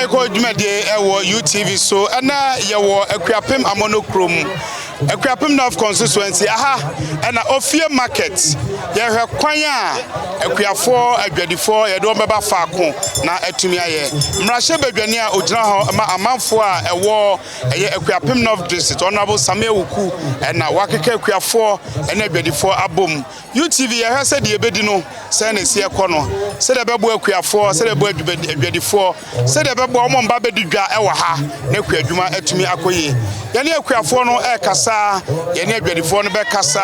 Ɛkɔ dwumadie wɔ UTV so ɛna yɛwɔ Akuapem Amono kurom Akuapem North constituency aha ɛna Ofie market yɛhwɛ kwan a Akuafoɔ adwadifoɔ yɛde wɔn bɛba faako na atumi ayɛ mmarahyɛ badwani a ogyina hɔ ma amanfoɔ a ɛwɔ ɛyɛ Akuapem North district Honorable Samuel Wuku ɛna wakeka Akuafoɔ ɛna adwadifoɔ abom UTV yɛhwɛ sɛ deɛ ɛbɛdi no sɛ na ɛsi ɛkɔ no sɛ deɛ ɛbɛboa akuafoɔ sɛ deɛ ɛbɛboa adwadifoɔ sɛ deɛ ɛbɛboa wɔn mba bɛdi dwa ɛwɔ ha na akua adwuma atumi akɔ yie yɛne akuafoɔ no ɛkasa yɛne adwadifoɔ no bɛkasa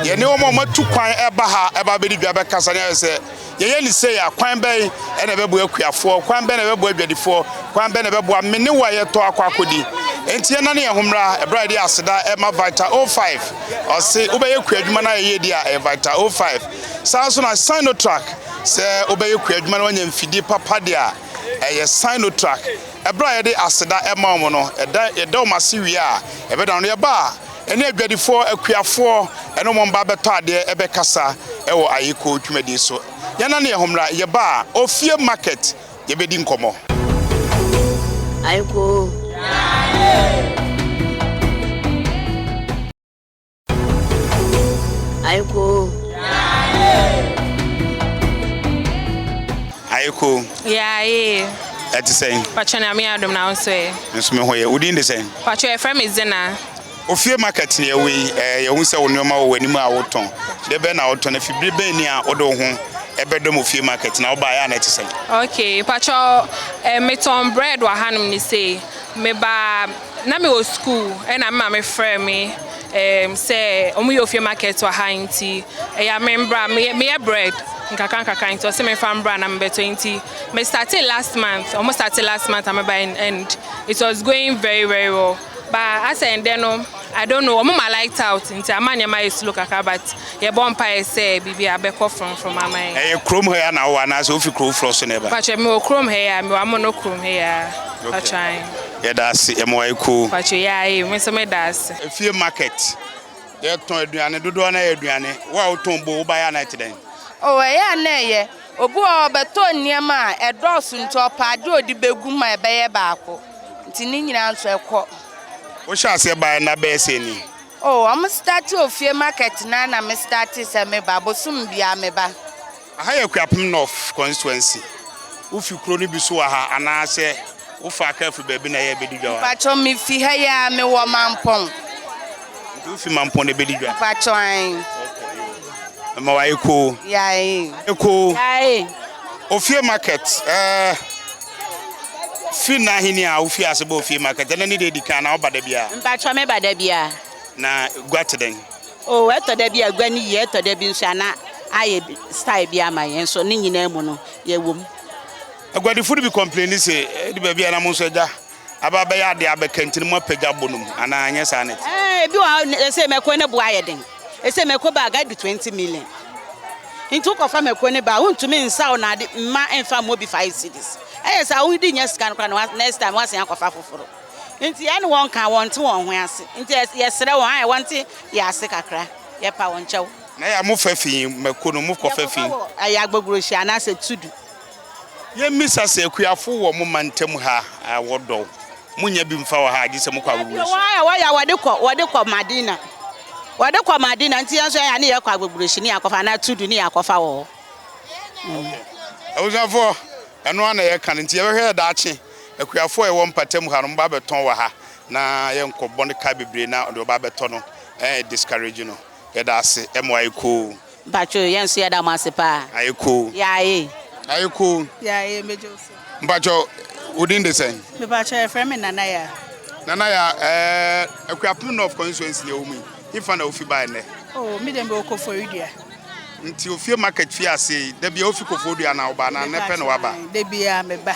yɛne wɔn a wɔatu kwan ɛba ha ɛba bɛdi dwa bɛkasa ne ayɛ sɛ Yɛyɛ no sei a, kwan bɛn na ɛbɛboa akuafoɔ? Kwan bɛn na ɛbɛboa adwadifoɔ? Kwan bɛn na ɛbɛboa me ne wo a yɛtɔ akɔ akɔdi? Enti yɛnnane yɛn ho mmra ɛberɛ a yɛde aseda ɛma Vital O5. Ɔse wobɛyɛ kuadwuma no a ɛyɛ di a, ɛyɛ Vital O5. Saa nso na Sinotrack, sɛ wobɛyɛ kuadwuma na woanya mfidie papa deɛ a, ɛyɛ Sinotrack. Ɛberɛ a yɛde aseda ɛma wɔn no, yɛda wɔn ase wie a, yɛbɛdane no yɛba a, Ɛne adwadifoɔ, akuafoɔ, ne wɔn mma bɛtɔ adeɛ ɛbɛkasa wɔ ayeko dwumadie so. Yɛnane yɛn ho mmra, yɛba a, Ofie Market, yɛbɛdi nkɔmmɔ. Ayeko. Ayeko. Ayeko. Yaaye. Ɛte sɛn? Patwɛn ame adom na ahosuo yɛ. Nso me ho yɛ. Wodin de sɛn? Pakyɛw yɛfrɛ me Zenaa. Ofie market ne ɛwɔ yi, ɛɛ yɛhu sɛ wo nneɛma wɔ w'anim a wotɔn. Deɛ bɛn na wotɔn? Ɛfiri bere bɛn ni a wode wo ho ɛbɛdɔm ofie market na wobaeɛ a na ɛte sɛn? Okay, pakyɛw ɛɛ metɔn bread wɔ hanom ne sei. Mebaa na mewɔ sukuu ɛna me maame frɛɛ me ɛɛ sɛ wɔyɛ ofie market wɔ ha nti ɛyɛ a memmra. Meyɛ meyɛ bread nkakra nkakra nti ɔse memfa mmra na mebɛtɔ nti Me startee last month, ɔmo startee last month ama by and it was going very very well. But asɛ ndɛ no, I don't know, ɔmo ma light out nti ama nneɛma ayɛ slow kakra but yɛbɔ mpaeɛ sɛ biribi abɛkɔ frɔmfrɔm ama yɛn. Ɛyɛ kurom ha yi a na wowɔ anaasɛ wofi kuro foforɔ so na ɛba? Patrɔ me wɔ kurom ha yi a, me wɔ Amono kurom ha yi a patrɔ ae. Yɛda ase, yɛma wayɛ koo. Patrɔ yɛ ae, me nso meda ase. Efie market, yɛtɔn aduane, dodoɔ no ara yɛ aduane. Wo a wotɔn boo, wobaeɛ a na ɛte dɛn? Oh ɛyɛ a na ɛyɛ. Obi wɔ hɔ a, ɔbɛtɔ nneɛma a ɛdɔɔso nti, ɔpɛ adeɛ a ɔde bɛgu ma ɛbɛyɛ baako nti ne nyinaa nso ɛkɔ. Wohyɛɛ aseɛ baeɛ nna bɛyɛ sɛn ni? Oh, wɔn starte ofie market no ara na me starte sɛ me ba, bosom biara me ba. Aha yɛ Akuapem North constituency, wofi kuro no bi so wɔ ha anaasɛ? Wo fa car fi baabi na yɛ bɛdi dwa wɔ ha? Mpakyɛw me fi ha yi aa me wɔ Mampɔn. Nti wo fi Mampɔn na yɛ bɛdi dwa? Mpakyɛw ae. Okay yo mɛma wayɛ koo. Yae. Koo. Yae. Ofie market ɛɛ fi na ahini a wo fi ase bɔ ofie market ɛnɛ ne deɛ edi kan anaa wo ba da biara? Mpakyɛw me ba da biara. Na gua te dɛn? Oh ɛtɔ da bi a gua no yie ɛtɔ da bi nso a na ayɛ style bi ama yɛn nso ne nyinaa mu no yɛ wɔ mu. Aguadifo no bi kɔmpleni se, Edu baabi a na mo nso agya aba abɛyɛ ade abɛka nti na moapagya abo no mu, anaa ɛnyɛ saa na ɛte? Ɛɛ, ebi wɔ hɔ a ɛsɛ mako no bo ayɛ den. Ɛsɛ mako bag adu twenty million. Nti wokɔfa mako no ba a, wontumi nsaw no ade mma ɛmfa mmɔ bi five cedis. Ɛyɛ saa a, wode nnya sika no koraa na next time woasan akɔfa foforo. Nti yɛne wɔn ka a, wɔnte wɔn ho ase. Nti yɛsrɛ wɔn ayɛ wɔnte yɛn ase kakra. Yɛpa wɔn kyɛw. Na ɛyɛ a mofa fi mako no, mokɔfa fi? Yɛkɔfa wɔ ɛyɛ Agbogurohyia anaasɛ Tudu. Yɛmmisa sɛ akuafo wɔ mo mantam ha a wɔdɔ wo? Monnya bi mfa wɔ ha gye sɛ mokɔ agogoreso. Afei wɔn ara a wɔyɛ a wɔde kɔ, wɔde kɔ Madina. Wɔde kɔ Madina nti yɛn nso yɛyɛ a ne yɛkɔ agogoreso ne yɛakɔfa anaa tudu ne yɛakɔfa wɔ hɔ. Okay. Abusuafoɔ, ɛno ara na yɛka no nti yɛbɛhwɛ yɛ daakye. Akuafo a yɛwɔ mpatam ha no, moba bɛtɔn wɔ ha na yɛnkɔbɔ no ka bebree na deɛ ɔba abɛtɔ no, ɛyɛ discourage no. Yɛda ase, ɛma ayɛ koo. Mpacho yɛn nso yɛda mo ase paa. Ayɛ koo. Yaaye. Ayɛ koo. Yaaye megye wo so. Mpacho wo din de sɛn? Mepacho yɛfrɛ me Nana Yaa. Nana Yaa ɛɛ Akuapem North constituency na ɛwɔ mu yi hefa na wofi bae nnɛ? Oh me deɛ me wɔ Koforidua. Nti ofie market fie aseɛ yi da biara wofi Koforidua anaa wobaa anaa nnɛ pɛ na waba? Dabiaa meba.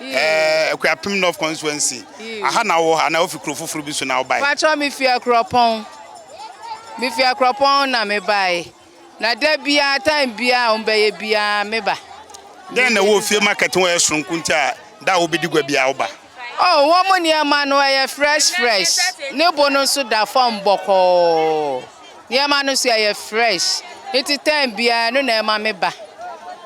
Eh, Akuapem North Constituency. Aha na wowɔ anaa wofi kuro foforɔ bi so na wobae? Patrɔ mefi Akurɔpɔn. Mefi Akurɔpɔn na mebae. Na da biara, time biara a wɔbɛyɛ biara meba. Dɛn na ɛwɔ ofie market ho a ɛyɛ soronko nti a da a wobɛdi gua biara woba? Oh, wɔn nneɛma no ɛyɛ fresh fresh. Ne bo no nso da fam bɔkɔɔ. Nneɛma no so ɛyɛ fresh nti time biara ɛno na ɛma me ba.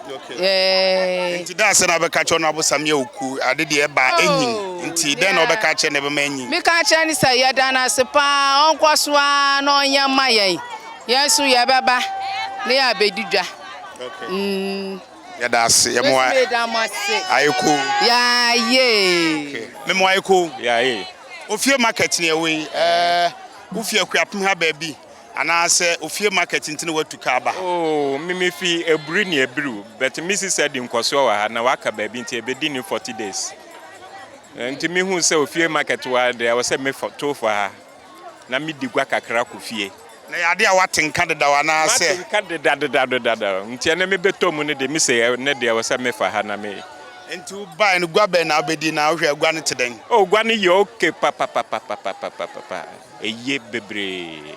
Yeah. Nti da sɛ na bɛka kyerɛ no abosam yɛ oku ade deɛ ɛba oh, enyin nti dɛn na ɔbɛka kyerɛ na ɛbɛma enyin. Meka kyerɛ no sɛ yɛda no ase paa ɔnkɔ so ara na ɔnyɛ mma yɛn yɛn nso yɛbɛba ne yɛ abɛdi dwa. Mm. Yɛda ase yɛ mo ayɛ ko. Yaaye. Me mo ayɛ ko. Yaaye. Ofie market ni ɛwɔ yi. Ɛɛ. Eh, Wo fi Akuapem ha baabi anaa sɛ ofie market nti na watu ka aba ha? Oh, me me fi Aburi ne Abiru but me sisi adi nkɔsoɔ wɔ ha na waka baabi nti ɛbɛ di ne forty days nti me hu sɛ ofie market wa deɛ ɛwɔ sɛ me fɔ to fɔ ha na me di gua kakra kɔ fie. Na ɛyɛ adeɛ a wate nka dedaw anaa sɛ? Mate nka deda deda deda nti ɛnɛ me bɛ tɔ mu ne deɛ me se ɛnɛ deɛ ɛwɔ sɛ me fa ha na me. Nti wo bae no gua bɛn na wobɛdi na wohwɛ agua no te dɛn? Oh gua no yɛ ok papapapapapapapa ɛye bebree.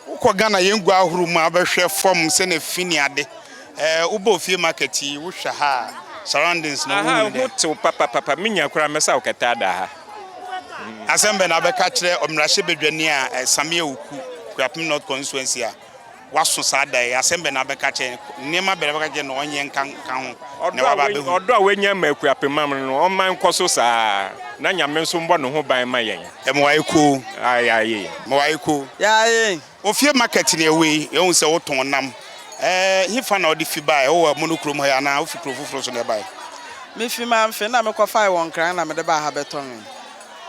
Wokɔ Ghana yɛn gua ahorow mu a wobɛhwɛ fam sɛnea fi ne ade eh wobɔ ofie market yi wohwɛ ha a surroundings no Aha wohu no dɛn? ho tew papapapa me nya koraa mɛsa wo kɛtɛ ada ha. Asɛm bɛn na wobɛka akyerɛ ɔmmarahyɛbadwani a eh Samia Oku Akuapem North Constituency a. waso saa da yi, asɛm bɛn na wobɛka akyerɛ no? Nneɛma bɛn na wobɛka akyerɛ no na ɔnyɛ nka nka ho na waba abɛhu? Ɔdɔ a wanya ama Akuapemma no no, ɔmma ɛnkɔ so saa ara, na Nyame nso mmɔ ne ho ban mma yɛn. Meware koo. Aye. Meware koo. Aye. Ofie market ne ɛwɔ yi, yɛahu sɛ wotɔn nam. Hefa na wode fi baeɛ? Wowɔ Amono kurom ha yi anaa wofi kuro foforɔ so na ɛbaeɛ? Mefi Mamfe na mekɔfae wɔ Nkran na mede baa ha bɛtɔnee.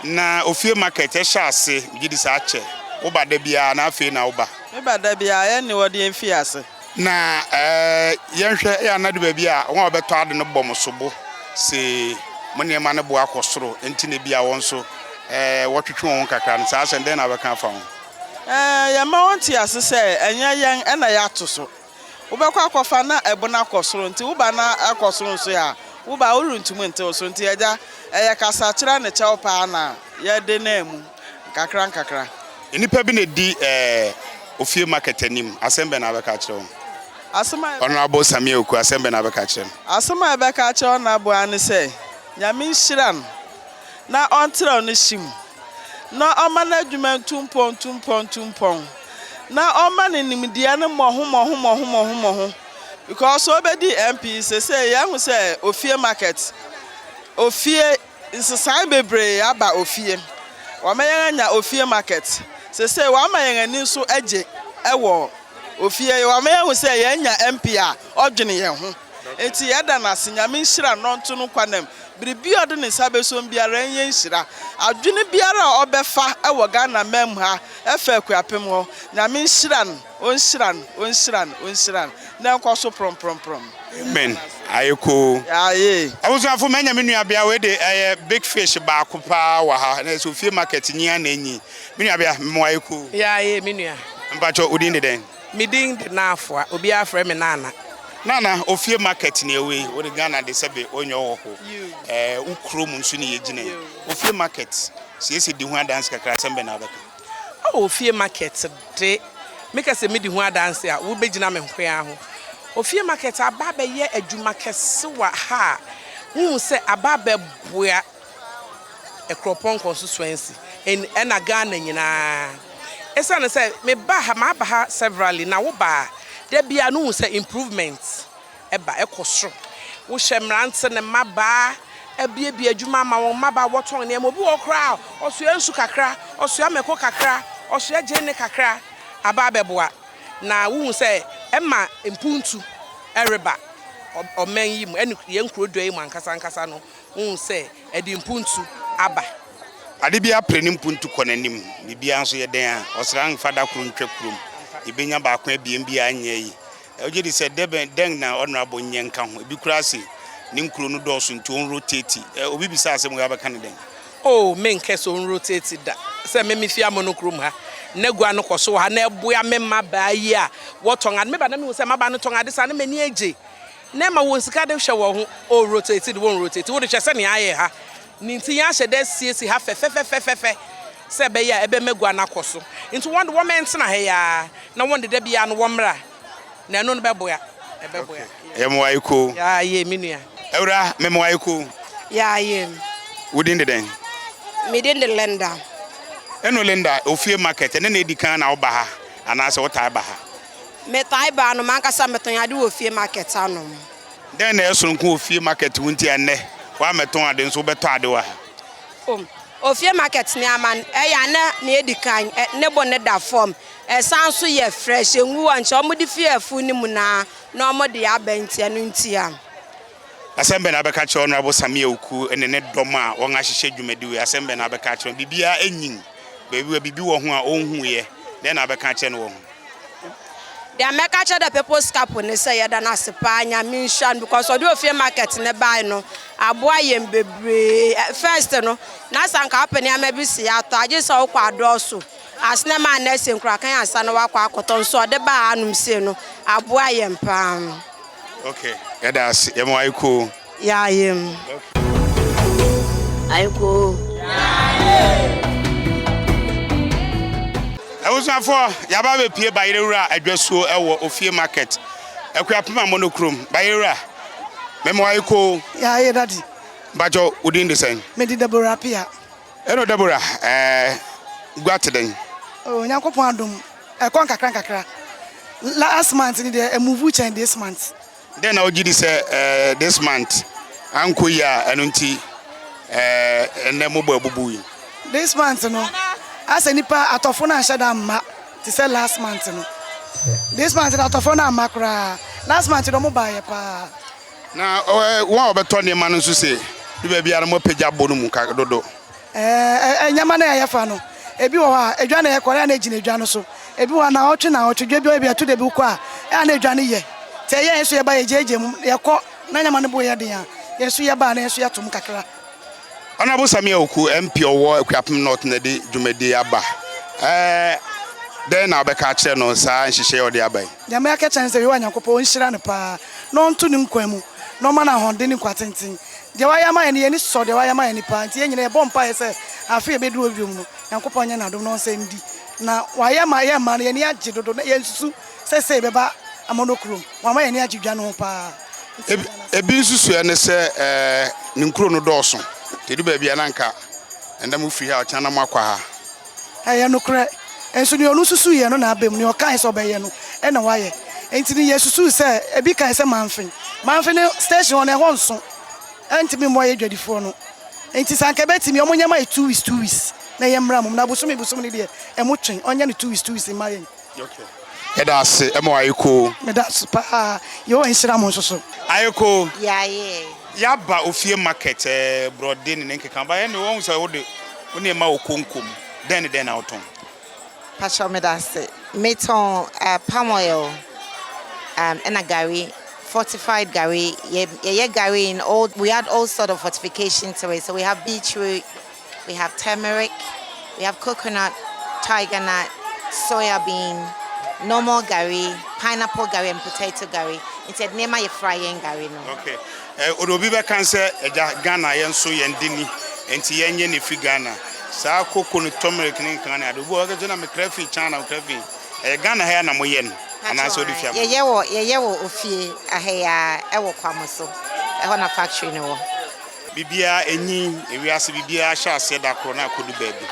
Na ofie market hyɛ ase. Megye di sɛ akyɛ. Wo ba da biara anaa afei na wo ba? Me ba da biara, yɛn ne wɔde yɛn fii ase. Na yɛnhwɛ, eya na adu baabi a wɔn a wɔbɛtɔ ade no bɔ mo sobo se mo nneɛma no bo akɔ soro nti na ebia wɔn nso wɔtwetwe wɔn ho kakra no. Saa asɛm, dɛn na wobɛka afa ho? Yɛma wɔte ase sɛ ɛnyɛ yɛn na yɛato so. Wobɛkɔ akɔfa na ɛbo no akɔ soro nti woba na akɔ soro nso a woba a worentumi ntew so nti agya ɛyɛ kasakyerɛ ne kyɛw paa na yɛde naa mu nkakra nkakra. Nnipa bi na ɛdi ofie market anim, asɛm bɛn na wobɛka akyerɛ wɔn? Asɛm a. Honourable Samia Oku, asɛm bɛn na wobɛka akyerɛ no? Asɛm a yɛbɛka akyerɛ Honourable ara ne sɛ Nyame nhyira no na ɔntrɛw ne hye mu. na ɔma n'adwuma ntu mpɔn ntu mpɔn ntu mpɔn, na ɔma ne nimdeɛ no mmɔho mmɔho mmɔho mmɔho mmɔho because ɔbɛdi MP sesei yɛahu sɛ ofie market ofie nsesae bebree aba ofie wɔama yɛn anya ofie market sesei wɔama yɛn ani nso agye ɛwɔ ofie wɔama yɛahu sɛ yɛanya MP a ɔdwene yɛn ho. Enti yɛda no ase, Nyame nhyira no, ɔnto no nkwa nam, biribi a ɔde ne nsa bɛsom biara ɛnyɛ nhyira, adwene biara a ɔbɛfa wɔ Ghana man mu ha ɛfa Akuapem ho, Nyame nhyira no, ɔnhyira no, ɔnhyira no, ɔnhyira no, na ɛnkɔ so prɔmprɔmprɔm. Amen ayɛ koo. Aye. Abusuafo manya me nuabea wei de ɛyɛ big fish baako paa wɔ ha na ɛsɛ ofie market nyi ara na enyi me nuabea mema wo ayɛ koo. Yaaye me nua. Mpakyɛw wo din de dɛn? Me din de Naafoa, obiara frɛ me Nana. Nana, ofie market ne ɛwɔ yi, wo de Ghana de sɛbe wo nyɛ ɔwɔ ho, ɛɛ wo kuro mu nso ne yɛ gyina yi, ofie market siesie di ho adanse kakra, asɛm bɛn na wo bɛ ka? Oh, ofie market de, me ka sɛ me di ho adanse a, wo bɛ gyina me nkoaa ho. Ofie market aba abɛyɛ adwuma kɛse wɔ ha a, wo hu sɛ aba abɛboa Akuropɔnkɔ nso Swansea en ɛna Ghana nyinaa. Esiane sɛ me ba ha maba ha severally na wo ba a da biara no wohu sɛ improvement ɛba ɛkɔ soro. Wo hyɛ mmerante ne mmabaa abuebue adwuma ama wɔn, mmabaa wɔtɔn nneɛma, obi wɔ hɔ koraa a ɔsoa nsu kakra, ɔsoa mako kakra, ɔsoa gyeene kakra aba abɛboa. Na wohu sɛ ɛma mpuntu ɛreba ɔ ɔman yi mu ɛne yɛn nkuro dua yi mu ankasa ankasa no. Wohu sɛ ɛde mpuntu aba. Ade biara pere ne mpuntu kɔ n'anim. Biribiara nso yɛ dɛn a, ɔsra mfa da koro ntwa kurom. Yɛbɛnya baako abien bi a ɛnyɛ ayi. Wogye di sɛ dɛbɛn, dɛn na Honourable nyɛ nka ho? Ebi koraa se ne nkuro no dɔɔso nti ɔnrotati. Ɛ, obi bisa asɛm wei a wobɛka no dɛn? Oh, menkɛ sɛ ɔnrotati da. Sɛ me mefie Amono kurom ha, na gua no kɔ so wɔ ha, na ɛboa me mmabaa yi a wɔtɔn ade. Meba na mehu sɛ mmabaa no tɔn ade saa a, na m'ani agye. Na ɛma wɔn sika de hwɛ wɔn ho, oh rotate de wɔn rotate, wode hwɛ sɛnea ayɛ ha no nti yɛahyɛ da asiesie ha fɛfɛfɛfɛfɛ sɛ ɛbɛyɛ a ɛbɛma gua no akɔ so nti wɔn de wɔn ntena ha yi ara na wɔn de da biara no wɔmmra na ɛno no bɛboa ɛbɛboa. Okay, yɛ mmoa yi koo. Yaa yee me nua. Awura, me mmoa yi koo. Yaa yee me. Wo din de dɛn? Me din de Linda. Ɛno Linda, ofie market ɛnɛ na edi kan na woba ha anaasɛ wotaa ba ha? Metaa ba anom ankasa metɔn ade wɔ fie market anom. Dɛn na ɛyɛ soronko wɔ fie market ho nti a nnɛ woammɛtɔn ade nso wobɛtɔ ade wɔ ha? O, fie market nneɛma no ɛyɛ a na nea edi kan ne bo no da fam, ɛsan nso yɛ fresh, engu hɔ nkyɛ, wɔde fi afuw no mu na na wɔde aba nti ɛno nti a. Asɛm bɛn na wobɛka akyerɛ Honourable Sammy Awuku ne ne dɔm a wɔahyehyɛ dwumadi wei? Asɛm bɛn na wobɛka akyerɛ wɔn? Biribiara nyin, baabi a biribi wɔ ho a onhuiɛ, dɛn na wobɛka akyerɛ no wɔ ho? Deɛ mɛka kyerɛ the people's cup ne sɛ yɛda no ase paa nyame nhyira no because ɔde ofie market ne bae no aboa yɛn bebree eh, first no na sɛ anka wopɛ nneɛma bi si atɔ agye sɛ wokɔ adɔɔso asene ma anɛ sɛ nkurakan ansa na wakɔ akɔtɔ nso ɔde baa anom sei no aboa yɛn paa. Okay, yɛda ase yɛma wayɛ koo. Yayem. Aiko. Abusuafoɔ, yɛaba abɛpue Bayerɛwura adwasuo wɔ Ofie Market, Akuapem Amono kurom. Bayerɛwura, mema wo aiko. Yɛayɛ, Daddy. Mpakyɛw, wo din de sɛn? Me din Deborah Appiah. Hello Deborah, ɛɛ gua te dɛn? Oh, Onyankopɔn adom, ɛkɔ nkakra nkakra. Last month no deɛ, ɛmuvu kyɛn this month. dɛn na wogye di sɛ ɛɛ this month ankɔ yie a ɛno nti ɛɛ ɛnɛ mobɔ abubu yi? This month no, asɛ nipa atɔfo no anhyɛ da mma te sɛ last month no. This month no atɔfo no amma koraa. Last month no ɔmo baayɛ paa. Na wɔn a wɔbɛtɔ nneɛma no nso se, bi baabi a na wɔapagya bo no mu dodo. Ɛɛ, nneɛma no a yɛfa no, ebi wɔ hɔ a, edwa na yɛkɔ, ɛyɛ na egyina edwa no so. Ebi wɔ hɔ a, naawɔtwe naawɔtwe, dwa bi wɔ hɔ a, ebi ɛto da bi wokɔ a, ɛyɛ na edwa no yɛ. Nti ɛyɛ a yɛn nso yɛba, yɛgyaagyaa mu, yɛkɔ, na nneɛma no bo yɛ den a, yɛn nso yɛba a, na yɛn nso yɛto mu kakra. Honourable Samia Oku, MP ɔwɔ Akuapem North na ɛde dwumadie yi aba. Ɛɛ, dɛn na wobɛka akyerɛ no saa nhyehyɛeɛ a ɔde aba yi? Deɛ mɛka akyerɛ no ne sɛ, Yehowa Nyankopɔn ɔnhyira no pa ara, na ɔnto ne nkwa mu, na ɔmma no ahoɔden ne nkwa tenten. Deɛ wayɛ ama yɛn no, yɛn ani sɔ deɛ wayɛ ama yɛn no paa, nti yɛn nyinaa yɛbɔ mpaeɛ sɛ afe a ɛbɛduru hɔ biom no, Nyankopɔn nyɛ n'adom na ɔnsan ndi na wayɛ ma yɛn mmaa no, yɛn ani agye dodo, na yɛnsusu sɛ sei bɛba Amono kurom, wama yɛn ani agye dwa no ho paa, nti yɛn nan ase. Ebi nsusuɛ ne sɛ ne nkuro no dɔɔso, nti ɛdu baabi a na nka ɛnda mofiri ha, ɔkyena na moakɔ ha. Ɛyɛ nokorɛ. Nso deɛ ɔno susuuiɛ no na aba mu, deɛ ɔkaae sɛ ɔbɛyɛ no na wayɛ. Enti no yɛ susuu sɛ, ebi kaae sɛ Manfe. Manfe no station hɔ no ɛhɔ nso, ɛntumi mmoa yɛ dwadifoɔ no. Enti sɛ anka ɛbɛtumi a, wɔnyɛ ma yɛ two weeks two weeks na yɛmmra mu. Na bosome bosome no deɛ, ɛmotwe. Wɔnyɛ no two weeks two weeks mma yɛn. Yɛda ase ma wo Ayeko. Meda ase paa. Yehowa nhyira mo nso so. Ayeko, yɛaba ofie market ɛɛ, borɔde ne ne nkeka aba ɛnde wahu sɛ wo de wo nneɛma wɔ konko mu. Dɛn ne dɛn na wotɔn? Patrɔ meda ase. Metɔn palm oil ɛna gari, fortified gari. Yɛyɛ gari in all, we add all sort of fortification to it, so we have beetroot. we have turmeric, we have coconut, tiger nut, soya bean, normal gari, pineapple gari and potato gari. Nti ɛde nneɛma yɛ fry yɛn gari no. Okay. Eh, odo bi bɛka sɛ ɛgya Ghana yɛn nso yɛn de ni. Nti yɛn yɛ ne fi Ghana. Saa koko ne turmeric ne nkan ne ade. Obi wɔ kɛse na me kra fi China, me kra fi. Ɛyɛ Ghana ha na mo yɛ no. Ana so de fi ama. Yɛyɛ wɔ yɛyɛ wɔ ofie ahɛya ɛwɔ Kwamo so. Ɛhɔ na factory no wɔ. Biribiara enyin, ewiase biribiara hyɛ aseɛ da koro na akodu baabi.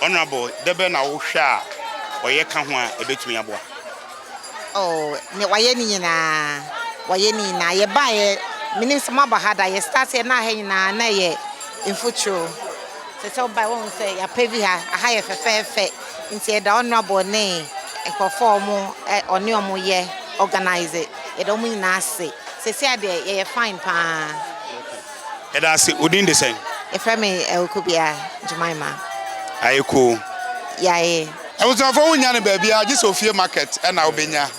Honourable, dɛ bɛn na wo hwɛ a ɔyɛ ka ho a ɛbɛtumi aboa? Oh, ne wayɛ ne nyinaa, wayɛ ne nyinaa. Yɛ baeɛ, menim sɛ mo aba ha da, yɛ start yɛ na aha nyinaa na ɛyɛ mfuturo. Sɛ sɛ wo baeɛ wohu sɛ yɛ apɛvi ha, aha yɛ fɛfɛɛfɛ, nti yɛda Honourable ne nkorɔfoɔ a wɔn ɛ, ɔne wɔn yɛ organise, yɛda wɔn nyinaa ase. Sesia deɛ yɛyɛ fine paa. Okay. Yɛda ase. Wo din de sɛn? Yɛfrɛ me Awuku Bia Jemima. Ayɛ cool. Yɛayɛ. Abusuafoɔ wonnya no baabiara gye sɛ ofie market ɛna wobɛnya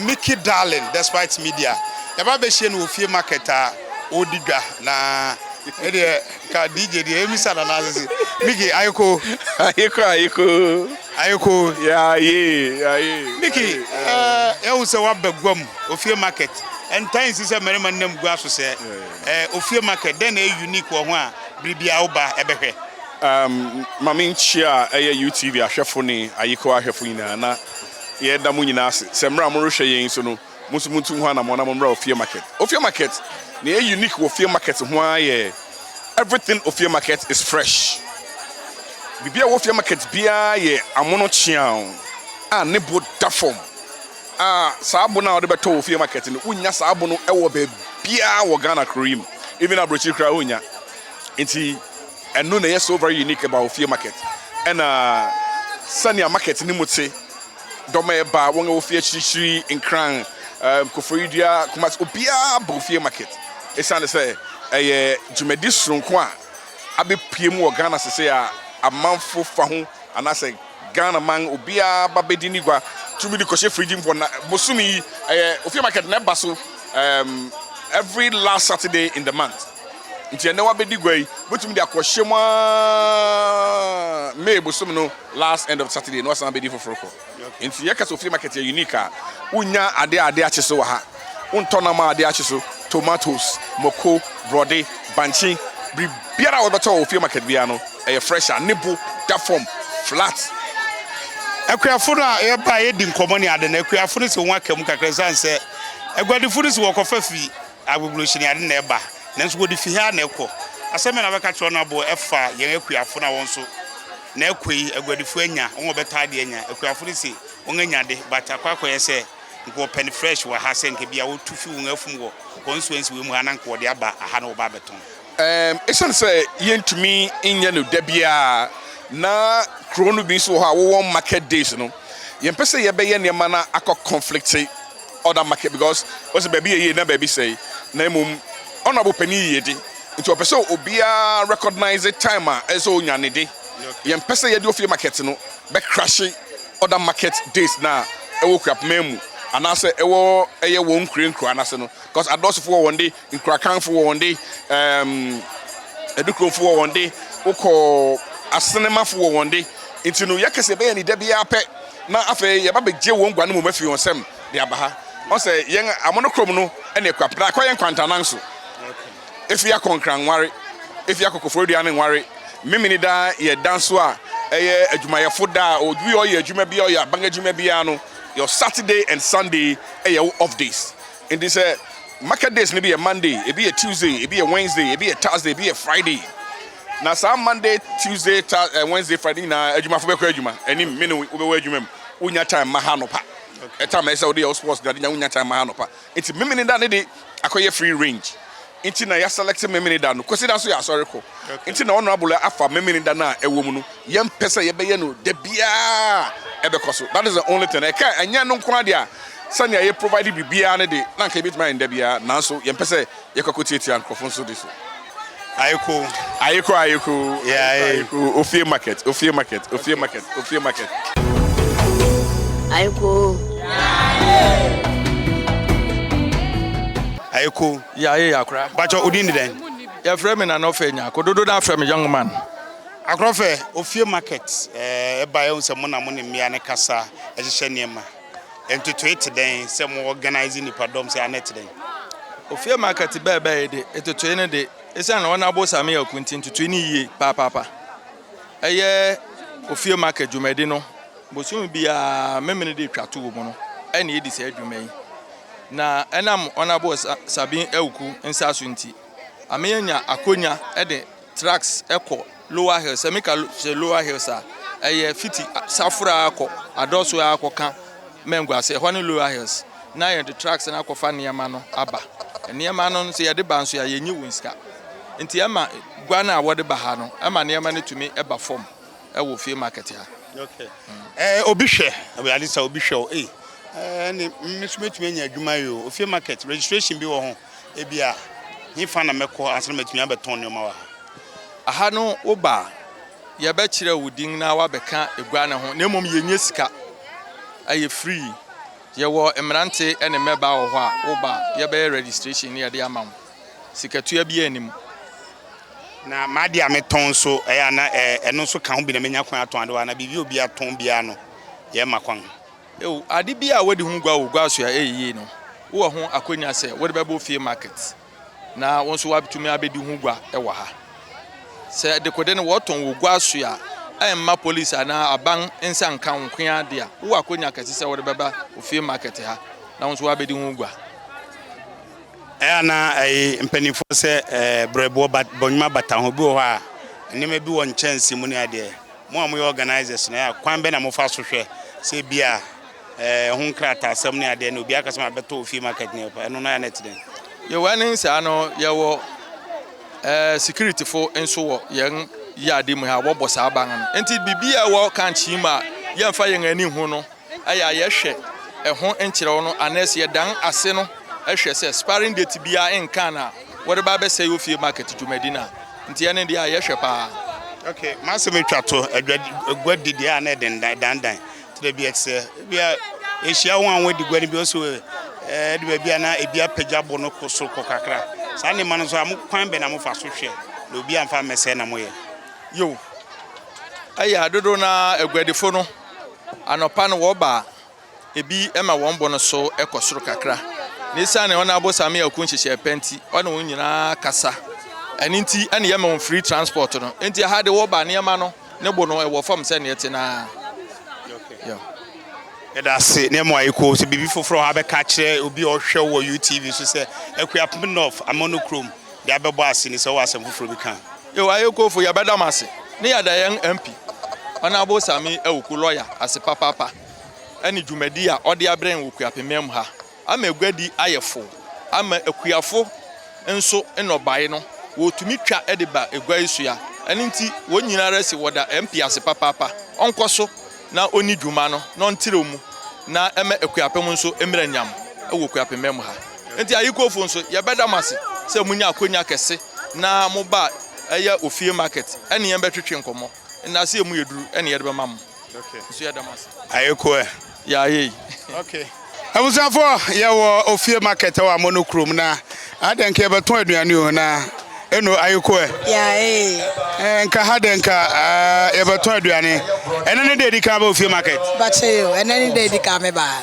Mickey Darling Despite Media. Yɛba bɛhyia no wɔ ofie market a ɔredi dwa na ne deɛ. Ka DJ deɛ ɛmi sa nana asese. Mickey ayeko. Ayeko ayeko. Ayeko. Ya ye ya ye. Mickey ɛɛ yɛhu sɛ waba guam ofie market. Ɛntaa nsi sɛ mmarima nam gua so sɛ ɛɛ ofie market dɛn na ɛyɛ unique wɔ ho a biribi a woba ɛbɛhwɛ. Um, mame nkyia a ɛyɛ UTV ahwɛfo ne ayeko ahwɛfo nyinaa na yɛda mo nyinaa ase sɛ mmerɛ a morehwɛ yɛn so no. mo nso montu ho anamɔn na mommra Ofie Market. Ofie Market, nea ɛyɛ unique wɔ Ofie Market ho ara yɛ everything Ofie Market is fresh. Biribi a ɛwɔ Ofie Market biara yɛ amono kyeaw a ne bo da fam a saa bo no a wɔde bɛtɔ wɔ Ofie Market no, wonnya saa bo no wɔ baabiara wɔ Ghana kuro yi mu, even aburokyiri koraa wonnya. Nti ɛno na ɛyɛ so very unique about Ofie Market. Ɛna sɛnea market no mu te Dɔm a ɛba, wɔn a wɔfi akyirikyiri, Nkran, Koforidua, Kumasi, obiara ba Ofie Market esiane sɛ ɛyɛ dwumadi soronko a abepue mu wɔ Ghana sesei a amanfo fa ho anaasɛ Ghanaman obiara ba bedi ne gua tumi de kɔhyɛ frigyi mu na bosome yi ɛyɛ Ofie Market na ɛba so every last Saturday in the month nti ɛnnɛ wabedi gua yi wobetumi de akɔhyɛ mu ara May bosome no last end of Saturday na ɔsan bedi foforo kɔ. Enti yɛka sɛ ofie market yɛ unique a, wunnya ade a ade akye so wɔ ha. Wontɔ nam a ade akye so, tomatoes, mako, borɔde, bankye, biribiara a wobɛtɔ wɔ ofie market biara no, ɛyɛ fresh a ne bo da fam flat. Akuafo no a yɛbae a yɛadi nkɔmmɔ ne ade no, akuafo no se wɔaka mu kakra esiane sɛ aguadifo no se wɔkɔfa fi Agogohyɛ ni ade na ɛba, nanso wɔde fi ha na ɛkɔ. Asɛm bɛn na wobɛka kyerɛ wɔn a wɔabɔ afa yɛn akuafo no a wɔn nso, na ɛkɔ yi, aguadifo anya, wɔn a wɔbɛtɔ ade anya? Akuafo no se, Wɔanya ade, but akɔ akɔyɛ sɛ anka wɔpɛ no fresh wɔ ha, sɛ anka ebia wotu fi wɔn afum wɔ constituency wei mu ha na anka wɔde aba ha na wɔba abɛtɔn. Ɛɛm, esiane sɛ yentumi nyɛ no da biara, na kurow no bi nso wɔ hɔ a wɔwɔ market days no, yɛmpɛ sɛ yɛbɛyɛ nneɛma na akɔ conflict. other market because ɔsɛ baabi yɛ yie na baabi sɛe na mmom honourable panin yiyedi nti ɔpɛ sɛ obiara recognise time a ɛsɛ sɛ onya ne de yɛmpɛ sɛ yɛde ofie market no bɛkrahye other market days no a ɛwɔ Kuapman mu anaasɛ ɛwɔ ɛyɛ wɔn nkure nkuraa no ase no because adɔɔsofo wɔ wɔn de Nkurakanfo wɔ wɔn de, ɛɛm, Adukurofo wɔ wɔn de, wokɔ Asenemafo wɔ wɔn de. Nti no, yɛka sɛ yɛbɛyɛ ne da biara pɛ, na afei yɛba begye wɔn guan mmom afi wɔn nsam de aba ha. Ɔn sɛ yɛn amono kurom no ne akuapem, na akɔ yɛn nkwantanan so. Efi akɔnkran nware, efi akɔkɔforidua ne nware, Memeneda yɛ da nso a ɛyɛ adwumayɛfo da a obi a ɔyɛ adwuma biara, ɔyɛ aban adwuma biara no, your Saturday and Sunday yɛ wo off days. Enti sɛ market days no bi yɛ Monday, ebi yɛ Tuesday, ebi yɛ Wednesday, ebi yɛ Thursday, ebi yɛ Friday. Na saa Monday, Tuesday, ta, eh, Wednesday, Friday nyinaa adwumafo bɛkɔ adwuma. Anim me ne wo- wobɛwɔ adwuma mu. Wonya time ma ha anɔpa. Ɛtam ɛsɛ sɛ wode yɛ wo sports na de nya wonya time ma ha anɔpa. Enti memene da ne de akɔyɛ free range. Nti na yɛaselɛkte Memeneda no. Kwasida nso yɛ asɔre kɔ. Nti na Honourable afa Memeneda no a ɛwɔ mu no. Yɛmpɛ sɛ yɛbɛyɛ no da biara a ɛbɛkɔ so. That is the only thing. Ɛka ɛnyɛ ɛno nko ara deɛ a, sɛnea yɛ provide biribiara no de, na anka yɛbɛtumi ayɛ no da biara. Nanso yɛmpɛ sɛ yɛkɔ akɔtiatia nkurɔfo nso de so. Ayeko. Ayeko, Ayeko, Ayeko, Ayeko, Ofie Market, Ofie Market, Ofie Market, Ofie Market. Ayeko. Yaaye. Ayeko. Yaaye Yakora. Bakyɛ odin de dɛn? Yɛfrɛ me Nana Ɔfɛ Nyarko. Dodow no ara frɛ me Young Man. Akora Ɔfɛ, Ofie Market eh, ɛbae ahu sɛ mo na mo ne mmea no kasa, hyehyɛ nneɛma. Ntotoe te dɛn sɛ mo organise nnipadɔm sɛ anɛ te dɛn? Ofie Market bɛɛbɛɛe de, ntotoe no de, esiane wɔn abosame aku nti ntotoe no ye paapapa. Ɛyɛ Ofie Market dwumadi no. Bosome biara Memeneda a ɛtwa to wɔ mu no na yɛdi saa dwuma yi. Na ɛnam Honourable Sa Sabin Awuku nsa so nti, ame anya akonya de trucks kɔ Lower Hills. Sɛ meka sɛ Lower Hills a, ɛyɛ fiti Safora ara kɔ Adɔso ara kɔ ka Mangu ase, ɛhɔ ne Lower Hills. Na yɛde trucks no akɔfa nneɛma no aba. Nneɛma no nso yɛde ba nso a, yɛnnye wɔn sika. Nti ɛma gua no a wɔde ba ha no, ɛma nneɛma no tumi ba fam. ɛwɔ fie market ha. Okay. Eh, obi hwɛ, ɛwurade sɛ obi hwɛ o. Eh, eh, ne me so metumi anya adwuma yi o. Ofie market registration bi wɔ ho. Ebi a, he fa na mɛkɔ ansa na matumi abɛtɔn nneɛma wɔ ha. Aha no woba a, yɛbɛkyerɛ wo din na wabɛka egua no ho. Na mmom yɛnyɛ sika. Ɛyɛ free. Yɛwɔ mmerante ne mmɛbaa wɔ hɔ a, woba a, yɛbɛyɛ registration na yɛde ama wo. sikatua biara nni mu. Na m'adeɛ a metɔn nso, ɛyɛ a na ɛno nso ka ho bi na menya kwan atɔn adewa anaa biribi a obi atɔn biara no, yɛmma kwan. Ew, ade bi a wɔadi ho gua wɔ gua so a ɛyɛ yie no, wowɔ ho akwannya sɛ wode bɛbɔ fie market na wo nso woatumi abɛdi ho gua wɔ ha. Sɛ dekode no wɔtɔn wɔ gua so a, ɛmma polisi anaa aban nsa nka wo nko ara de a, wowɔ akwannya kɛse sɛ wode bɛba ofie market ha na wo nso woabɛdi ho gua. Ɛyɛ a na ɛye mpaninfoɔ sɛ brɛboɔ but bɔnwuma bata ho. Bi wɔ hɔ a nneɛma bi wɔ nkyɛnse mu ne adeɛ. Mo a moyɛ organisers no, ɛyɛ a kwan bɛ na mo fa so hwɛ sɛ bi a ɛho nkrataa sɛm ne adeɛ no obiara ka sɛ ma bɛtɔ wɔ fie market ne ɛpa ɛno no ɛyɛ a na ɛte dɛn? Yɛ wɔ ne saa no yɛ wɔ ɛɛ security fo nso wɔ yɛn yɛ ade mu ha wɔbɔ saa ban no nti biribi a ɛwɔ kankyee mu a yɛnfa yɛn ani nhu no. yɛ a yɛhwɛ ɛho nkyerɛw no anaasɛ yɛdan ase no hwɛ sɛ expiring date biara nnkaa no a, wɔde ba abɛsɛe ofie market dwumadi no a, nti ɛno deɛ a yɛhwɛ paa. Ok, m'asɛm yi twa to adwa gua di deɛ a na ɛde ndan dandan te dɛ bi a te sɛ ebi a ehyia wɔn a wɔadi gua no bi ɔsɛ ɛde baabi a na ebi apagya bo no kɔ soro kɔ kakra saa nneɛma no nso a mo kwan bɛn na mofa so hwɛ na obi amfa ammɛsɛe na moyɛ? Yiw, ɛyɛ a dodow no ara aguadifo no Anɔpa no wɔba a, ebi ma wɔn bo no so kɔ soro kakra, na esiane ɔne abosame akuw nhyehyɛe pa nti, ɔne wɔn nyinaa kasa. Ɛno nti na yɛma wɔn free transport no. Enti ɛha de wɔba nneɛma no, ne bo no wɔ fam sɛnea ɛte no ara. Yeah. Yɛda ase na ɛma yɛkɔ sɛ biribi foforɔ a wobɛka akyerɛ obi a ɔhwɛ wɔ UTV so sɛ Akuapem North Amono kurom de abɛbɔ ase ne sɛ wowɔ asɛm foforɔ bi ka a. Yo Ayekofo yɛbɛda mo ase ne yɛda yɛn MP Honourable Sammy Awuku lɔya ase papaapa ne dwumadi a ɔde abrɛ yɛn wɔ Kuapemam ha ama aguadi ayɛ fow ama akuafo nso nnɔbae no wɔtumi twa de ba agua yi so ya ɛno nti wɔn nyinaa ara si wɔda MP ase papaapa ɔnkɔ so na ɔnni dwuma no na ɔntrɛw mu na ɛmma akuapem nso mmra nyam wɔ Kuapemmɛ mu ha. Nti Ayikofo nso, yɛbɛda mo ase sɛ monyaa akonya kɛse na mobaa ɛyɛ ofie market ɛne yɛn bɛtwetwe nkɔmmɔ. Nnaase a ɛmu yɛ duru na yɛde bɛma mo. Nso yɛda mo ase. Ayeko ɛ? Yɛayɛ yi. Okay. Abusuafo yɛ wɔ ofie market wɔ amono kurom na adɛ nka yɛbɛtɔn aduane o na eno ayeko ɛ. Yae. Nka ha dɛ nka yɛbɛtɔn aduane ɛnɛ ne dɛ edi kan bɛ ofie market. Bakyɛ yo ɛnɛ ne dɛ edi kan me ba.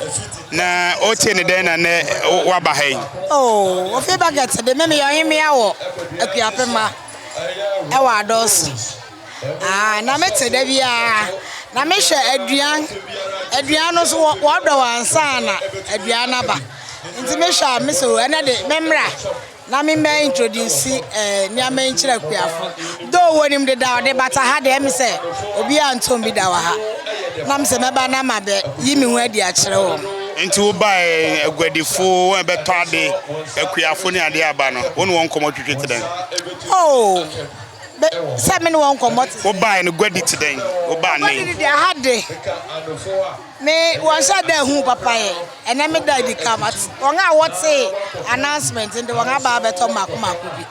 Na ote ne dɛn na nɛ waba ha yi. Oh ofie market de me meyɛ ɔhemea wɔ akuapema ɛwɔ adɔɔso. Aah na me te da biara na me hwɛ aduan aduan no so wɔdɔ wɔ ansa na aduan naba nti me hwɛ a me so ɛnɛ de me mmra na me mɛ introduce eh, nneɛma yi nkyerɛ kuafo do wɔ nim deda ɔde bata ha deɛ me sɛ obi a ntɔn bi da wɔ ha na me sɛ mɛba na ma bɛ yi me ho adi akyerɛ wɔn. nti wo ba eh, aguadifo wɔn ɛbɛtɔ ade akuafo ne adeɛ aba no wɔn wɔn nkɔmɔ twitwi te dɛn. oh. sɛ me ne wɔn nkɔmmɔ te sɛ. Wobae no guadi te dɛn? Wobaa nnɛ yi. Guadi deɛ aha de, me wɔnhyɛ da ehu papa yɛ. Ɛnɛ me da edi kan mate. Wɔn a wɔtee announcement de wɔn aba abɛtɔ mako mako bi.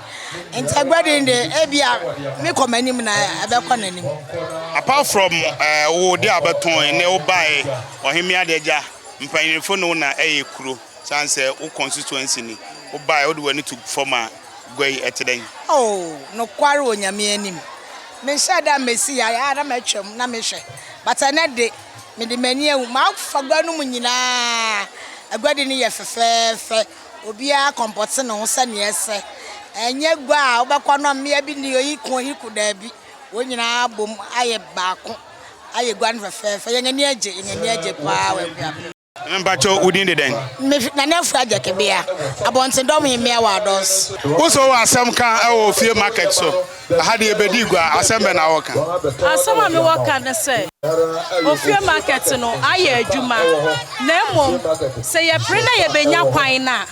Nti aguadi de ebi a me kɔ m'anim na ɛbɛkɔ n'anim. Apart from ɛɛ eh, wo de a wɔbɛtɔn ne wobae, ɔhemmea de agya, mpanyinfo ne wo na ɛyɛ kuro. San sɛ wo constituency ni wo bae a wode w'ani to fam a gua yi ɛte dɛn? Oh nokware wɔ Nyame anim me nhyɛ da mesi ha a na matwam na me hwɛ but ɛnɛ de me de m'ani ahu mafa gua no mu nyinaa aguadi no yɛ fɛfɛɛfɛ obiara kɔmpɔte ne ho sɛnea ɛsɛ ɛnyɛ gua a wobɛkɔ no mmea bi ni oyi ko oyi ko daabi wɔn nyinaa abom ayɛ baako ayɛ gua no fɛfɛɛfɛ yɛn ani agye yɛn ani agye paa wɔ aguabɔ. Mpakyɛw, wo din de dɛn? Me fi Nana Afua Agyakabea, Abɔntendɔm he mmea wɔ Adɔs. Wo so wowɔ asɛm ka wɔ ofie market so? Aha deɛ yɛbɛdi gua, asɛm bɛn na wɔka? Asɛm a mewɔ ka ne sɛ, ofie market no ayɛ adwuma, na mmom sɛ yɛpere na yɛbɛnya kwan no a,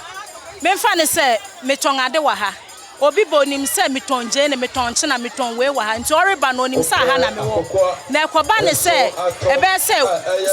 memfa no sɛ metɔn ade wɔ ha. Obi ba onim sɛ metɔn gyeene, metɔn nkyena, metɔn wei wɔ ha, nti ɔreba no onim sɛ aha na mewɔ. Na ɛkɔba no sɛ ɛbɛyɛ sɛ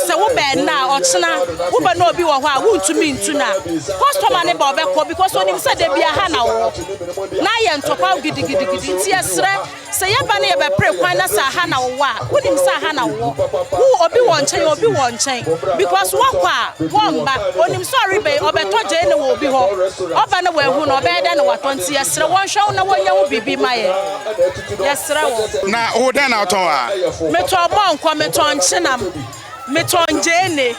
sɛ woba ɛnnɛ a ɔkyena wobɛ na obi wɔ hɔ a wontumi ntu no a, kɔstɔma no ba ɔbɛkɔ because onim sɛ da biara ha na wowɔ. Na ayɛ ntɔkwaw gidigidigidi nti yɛsrɛ. Sɛ yɛba na yɛbɛpere kwan na sɛ aha na wowɔ a, wonim sɛ aha na wowɔ. Wo obi wɔ nkyɛn a obi wɔ nkyɛn because woakɔ a, wɔmma. Onim sɛ ɔreba yi, ɔbɛtɔ gyeene wɔ obi hɔ. Ɔba na wahu no, ɔbɛyɛ dɛn na watɔ? Nti yɛsrɛ wɔnhwɛ wo na wɔnyɛ ho biribi mma yɛn. Yɛsrɛ wɔn. Na wo dɛn na wotɔn a? Metɔn mɔnkɔ, metɔn nkyenam, metɔn gyeene.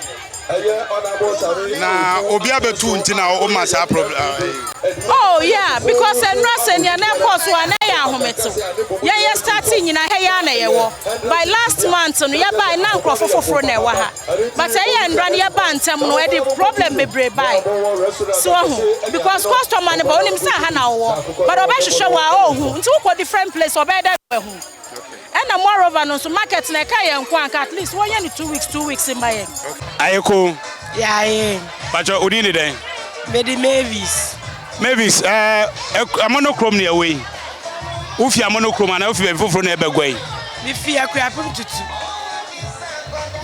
na obi abɛtu nti na woma saa problem. Ah, eh. Oh yeah, because ɛnura sɛ nea na ɛkɔɔ so a na ɛyɛ ahometew. Yɛn yɛ start nyina ha yɛ na yɛwɔ. By last month no yɛbae na nkurɔfo foforo na ɛwɔ ha. But ɛyɛ nnura no yɛbaa ntɛm no ɛde problem bebree bae. So ho because customer no ba onim sɛ ha na wowɔ but ɔbɛhwehwɛ wɔ a ɔhu nti wokɔ different place ɔbɛyɛ dɛ na wahu. Ɛna moreover no nso market no ɛka yɛn nko anka at least wɔnyɛ no two weeks two weeks mma yɛn. Aye ko. Yaaye. Pakyɛ odin de dɛn? Mede Mavis. Mavis ɛɛ Amono kurom na ɛwɔ yi? Wofi Amono kurom anaa wofi baabi foforo na ɛbɛ Guai? Mefi Akuapem tutu.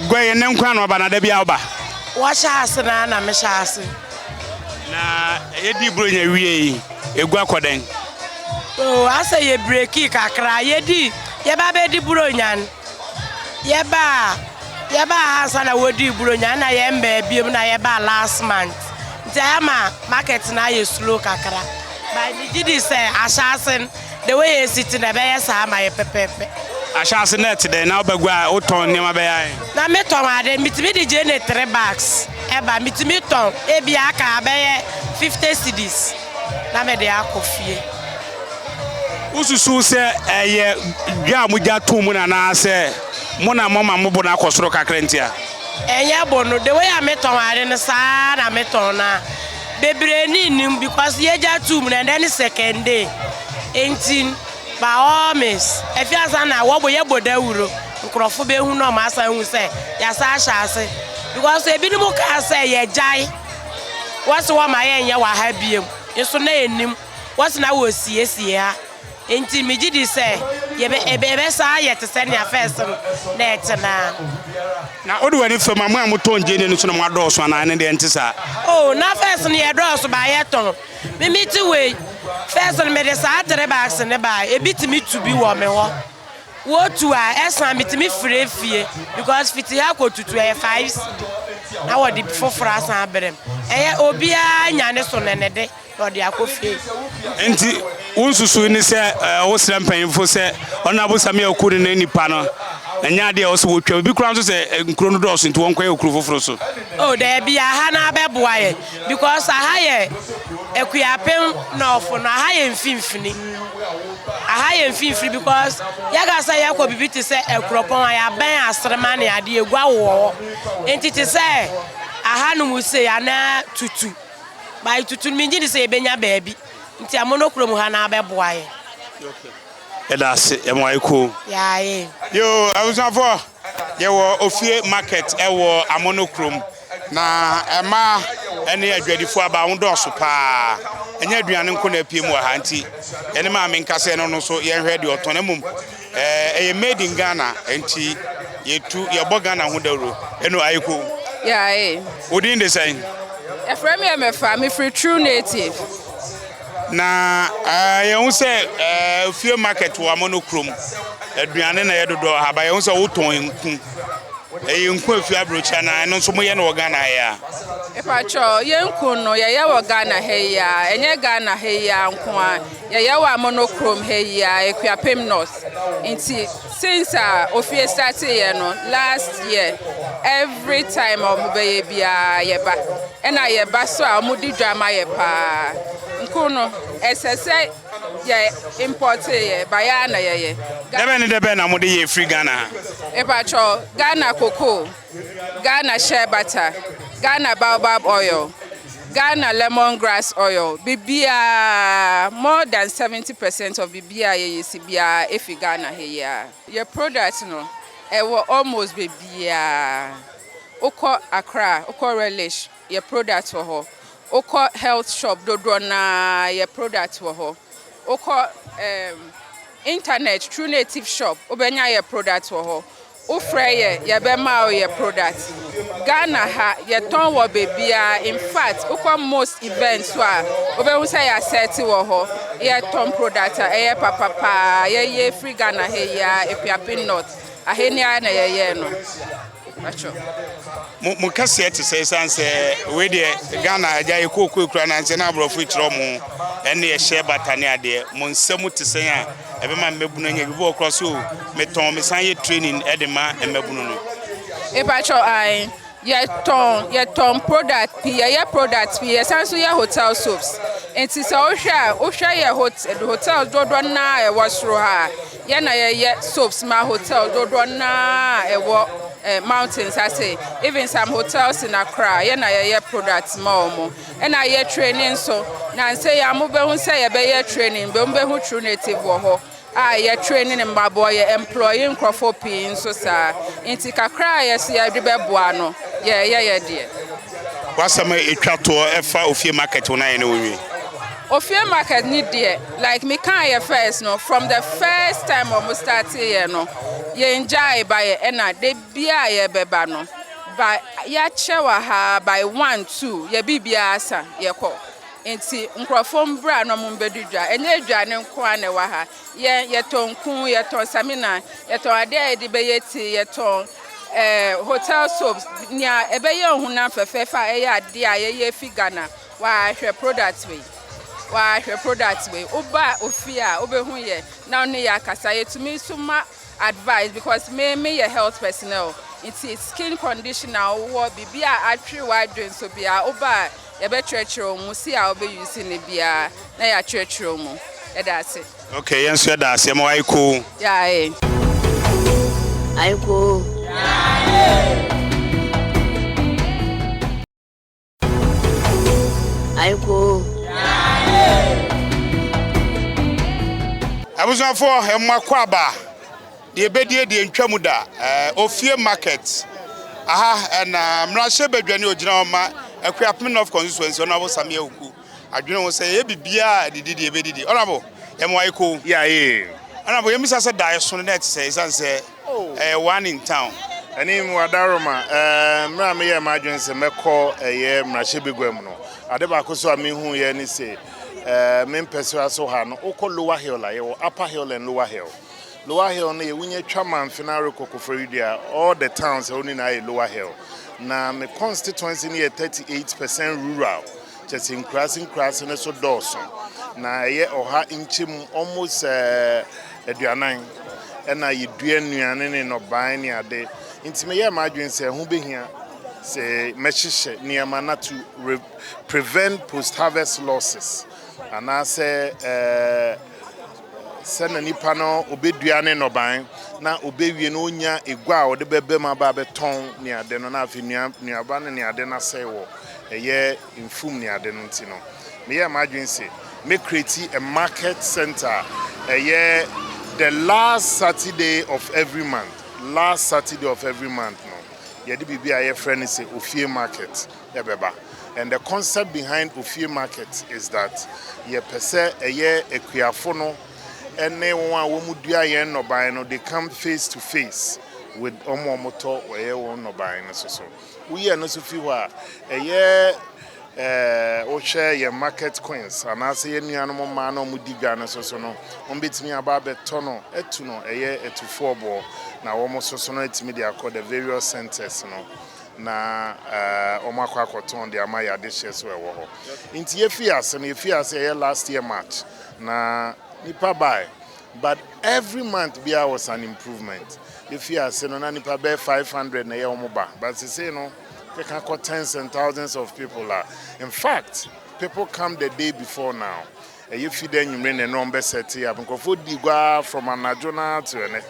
Guai ɛnɛ nko ara na woaba anaa da biara woba? Wɔhyɛ ase no ara na mehyɛ ase. Na yɛdii Buronya wiei. egua kɔ dɛn? Oh, asɛ yɛ breki kakra, yɛ di, yɛ ba bɛ di buronyan, yɛ ba, yɛ ba ha nsa na wɔ di buronyan na yɛ mbɛ ebiem na yɛ ba last month, nti ayɛ ma market na ayɛ slow kakra, but mi gyi di sɛ ahyɛ asen. The way yɛsi te na ɛbɛyɛ saa ama yɛ pɛpɛɛpɛ. Ahyɛase na ɛte dɛn? Na wobɛgua a wotɔn nneɛma bɛyɛ ahe? Na metɔn ade, metumi de gye ne three bags ɛba. Metumi tɔn ebi aka abɛyɛ fifty cedis na mede akɔ fie. Wosusuw sɛ ɛyɛ dwa a mogya too mu no anaasɛ mo na moama mo bo no akɔ soro kakra nti a? Ɛnyɛ bo no, the way a metɔn ade no saa ara na metɔn no a. bebree ni nnim because yɛgya tum na ɛdɛ ne second day nti by all means efi asa na wɔbɔ yɛbɔ dawuro nkurɔfo behu na wɔn asa hu sɛ yasa ahyɛ ase because ebinom kaa sɛ yɛgyae wɔsi wɔn ma yɛnyɛ wɔ ha biem nso na enim wɔsi na wɔsiesie ha. Enti migye di sɛ yɛbɛ, ɛbɛ, ɛbɛsan ayɛ te sɛ nea first no na ɛte no ara. Na wode w'ani fa mu a, mo a motɔn gyeene no nso na moadɔɔso anaa? Ɛno deɛ ɛnte saa. Oh, na first no yɛdɔɔso baa yɛtɔn. Me mete wei, first no mede saa three bags no baa, ebi tumi tu bi wɔ me hɔ. Wotu a, ɛsan, metumi frɛ fie, because fiti ha kɔ Tutu ɛyɛ five cedi, na wɔde foforo asan abrɛ me. Ɛyɛ, obiara nya ne so ne ne de. na ɔde akɔ fie. Nti wo nsusuwii ne sɛ eh, wosrɛ mpanyimfo sɛ ɔno abosame a oku ne ne nipa no ɛnyɛ ade a ɔsɛ wotwa bi koraa nso sɛ eh, nkuro no dɔɔso nti wɔnkɔyɛ okuro foforo so. Oh, daabi aha no abɛboa yɛ because aha yɛ akuapem nɔɔfo no aha yɛ mfimfini aha yɛ mfimfini because yɛka sɛ yɛkɔ biribi te sɛ akuropɔn a yɛabɛn aserema ne adeɛ egua wowɔ hɔ nti te sɛ aha no mu sei anaa tutu By tutu no mengye di sɛ yɛbɛnya baabi nti a mono kurom ha na abɛboa yɛn. Yɛda ase ɛmo ayɛ koo. Yɛayɛ. Yoo abusuafoɔ yɛwɔ ofie market ɛwɔ amono kurom na ɛmaa ɛne adwadifoɔ aba ho dɔɔso paa ɛnyɛ aduane nko na apiem wɔ ha nti yɛne maame nkasa ɛno no so yɛnhwɛ deɛ ɔtɔn na mmom Ɛɛ ɛyɛ made in Ghana nti yɛtu yɛbɔ Ghana ho dawuro ɛno ayeko. Yaae. Wo din de sɛn? Yɛfrɛ me Ɛmɛfa, mefiri True Native. Na ɛɛ yɛhu sɛ ɛɛ fie market wɔ Amono kurom aduane na ɛyɛ dodoɔ ha ba yɛhu sɛ wotɔn nku. Ɛyɛ nku efi aburokyire anaa ɛno nso moyɛ no wɔ Ghana ha yi a? Mpakyɛw yɛn nku no yɛyɛ wɔ Ghana ha yi a ɛnyɛ Ghana ha yi a nko ara. Yɛyɛ wɔ Amono krom ha yi ara, Akuapem North. Nti since a ofie startee yɛ no last year, every time a wɔbɛyɛ biara yɛba. Ɛna yɛba so a wɔdi dwa ma yɛ paa. Nku no, ɛsɛ sɛ yɛ importee yɛ, ba yɛ ara na yɛyɛ. Dɛbɛn ne dɛbɛn na mode yɛ firi Ghana ha? Mepakyɛw, Ghana cocoa. Ghana shea butter, Ghana baobab oil, Ghana lemon grass oil, biribiara, more than 70 percent of biribiara yɛyɛ si biara efi Ghana ha yi ara. Yɛ product no ɛwɔ almost baabiara, wokɔ Accra, wokɔ Relish, yɛ product wɔ hɔ, wokɔ health shop dodoɔ no ara yɛ product wɔ hɔ, wokɔ ɛɛm, internet, True Native shop wobɛnya yɛ product wɔ hɔ. Wo frɛ yɛ yɛbɛma wo yɛ product Ghana ha yɛtɔn wɔ baabiaa infact wokɔ most event so a wobɛhu sɛ yɛ asɛte wɔ hɔ yɛtɔn product a ɛyɛ papa paa yɛyɛ firi Ghana ha yi ara Akuapem North ahe ni ara na yɛyɛɛ no pakyɛw. Mo mo kɛseɛ te sɛ ɛsiane sɛ wei deɛ Ghana agya yɛ kookoe kura nankyɛ na aborɔfo kyerɛ wɔn ɛne ɛhyɛ bata ne adeɛ mo nsa mu te sɛn a ɛbɛma mmabunu anya bi bɔɔ kora so metɔn mesan yɛ training de ma mmabunu no. Mpatsɔ ae yɛtɔn yɛtɔn product pii yɛyɛ product pii yɛsan nso yɛ hotel soaps nti sɛ wohwɛ a wohwɛ yɛ hotel hotel dodoɔ naa ɛwɔ soro ha yɛ na yɛyɛ soaps ma hotel dodoɔ naa ɛwɔ eh, mountains ase even some hotels na koraa yɛ na yɛyɛ product ma wɔn. Nna yɛ training so na nsei a mobehu sɛ yɛbɛyɛ training mbom mobehu true native wɔ hɔ a yɛ training mbaboa yɛ employe nkorɔfoɔ pii nso saa ntsi kakra a yɛse yɛde bɛboa no yɛɛyɛ yɛ deɛ. W'asɛm a etwa toɔ ɛfa ofie market ho no ayɛ na wonwie? Ofie market ne deɛ like me kaa yɛ first no from the first time ɔmo startee yɛ no yɛn gyae bayɛ ɛna da Bi a yɛbɛba no by yɛakyerɛw aha by one two yɛ biribiara asa yɛkɔ nti nkurɔfoɔ mbra na ɔmo mbɛdi dwa ɛnyɛ aduane nko ara na ɛwɔ ha yɛn yɛtɔn nku yɛtɔn samina yɛtɔn adeɛ a yɛde bɛyɛ tea yɛtɔn ɛɛ hotel soaps nea ɛbɛyɛ ɔhonam fɛfɛɛfɛ a ɛyɛ adeɛ a yɛyɛ fi Ghana wahwɛ product wei wahwɛ product wei woba ofie a wobɛhu yɛ na ɔne yɛ akasa yɛtumi nso ma advice because me me yɛ health personnel nti skin condition a wowɔ biribi a atwere w'adwene so bia woba a yɛbɛkyerɛkyerɛ wo mu si a wobɛ use ne bia na yɛakyerɛkyerɛ wo mu ɛda ase. Okay yɛn nso yɛda ase ɛma w'ayɛ koo. Yaaee. Ayɛ koo. Yaaee. Aiko. Abusuafoɔ ɛmo akwaaba deɛ bɛdie deɛ ntwa mu da eh, ofie market aha ɛna eh, mmarahyɛ badwa ne ogyina hɔ ma Akuapem North constituency ɔno abo Samia Oku adwene ho sɛ ɛyɛ biribiara a didi deɛ bɛdidi ɔno abo ɛmo aiko. Yɛ ayee. Ɔno abo yɛmisa sɛ daeɛ so no na ɛte sɛ ɛsiane sɛ Ɛyɛ one in town. Ɛne mu Adaroma. Mmerɛ a meyɛɛ m'adwene sɛ mɛkɔ ɛyɛ mmarahyɛbaguam no, ade baako nso a mehuiɛ ne se me mpɛsoa so ha no, wokɔ Lower Hill a, yɛwɔ Upper Hill and Lower Hill. Lower Hill no yɛ wonya twa Mamfena rekɔ Koforidua a, all the towns ɛhɔ no nyinaa yɛ Lower Hill. Na me constituency no yɛ 38 percent rural, kyerɛ sɛ nkuraase nkuraase no so dɔɔso. Na ɛyɛ ɔha nkyɛmu almost aduanan, ɛnna yedua nnuane ne nnɔbae ne ade. Enti meyɛɛ m'adwene sɛ ɛho behia sɛ mɛhyehyɛ nneɛma na to re prevent post-harvest losses, anaasɛ ɛɛ sɛ na nipa no obedua ne nnɔbae na obewie na onnya egua a ɔde bɛbam aba abɛtɔn ne ade no, na afei nnua nnuaba no ne ade no asɛe wɔ ɛyɛ mfum ne ade no nti no, meyɛɛ m'adwene se mɛ create a market centre a ɛyɛ the last Saturday of every month, last Saturday of every month no yɛde biribi a yɛfrɛ no se Ofie Market bɛba and the concept behind Ofie Market is that yɛpɛ sɛ ɛyɛ Akuafo no ne wɔn a wɔn dua yɛn nnɔbae no they come face to face with wɔn a wɔtɔ wɔyɛ wɔn nnɔbae no so so. Woyɛ no nso fi hɔ a, ɛyɛ wohwɛ yɛn market queens anaasɛ yɛn nuanom mmaa na wɔdi dwa no soso no, wɔbɛtumi aba abɛtɔ no atu no, ɛyɛ atufoɔ boɔ na wɔsoso no atumi de akɔ the various centres no na wɔakɔ akɔtɔn de ama yɛn adehyeɛ so ɛwɔ hɔ. Nti yɛfii ase no, yɛfii ase ɛyɛ last year March na nnipa bae. But every month biara was an improvement. Efi ase no na nipa bɛyɛ five hundred na ɛyɛ wɔn ba but sesei no keka kɔ tens and thousands of people a in fact people come the day before now ɛyɛ fi dɛ anwummere na ɛno wɔn bɛ set up nkurɔfoɔ di gua ara from anadwo no ara to ɛnɛ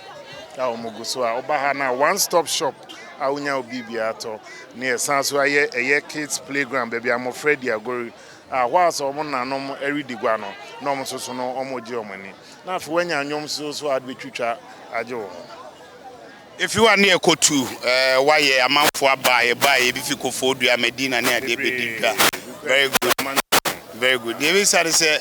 a wɔn gu so a woba ha no a one stop shop a wonya wo biribiara tɔ ne ɛsan so ayɛ ɛyɛ kids playground baabi a mmɔfra di agori Hɔ ara sɛ wɔn nanom redi gua no, na wɔn nso so no wɔregye wɔn ani. Na afei woanya nnwom nso so a wode bɛtwitwa agye wo ho. Efi hɔ a ne yɛkɔtu wayɛ, amanfoɔ aba, yɛbaeɛ, ebi fi Kofoo Dua, Medina ne adeɛ bɛdi dwa. Very good, very good. Deɛ mebisa ne sɛ,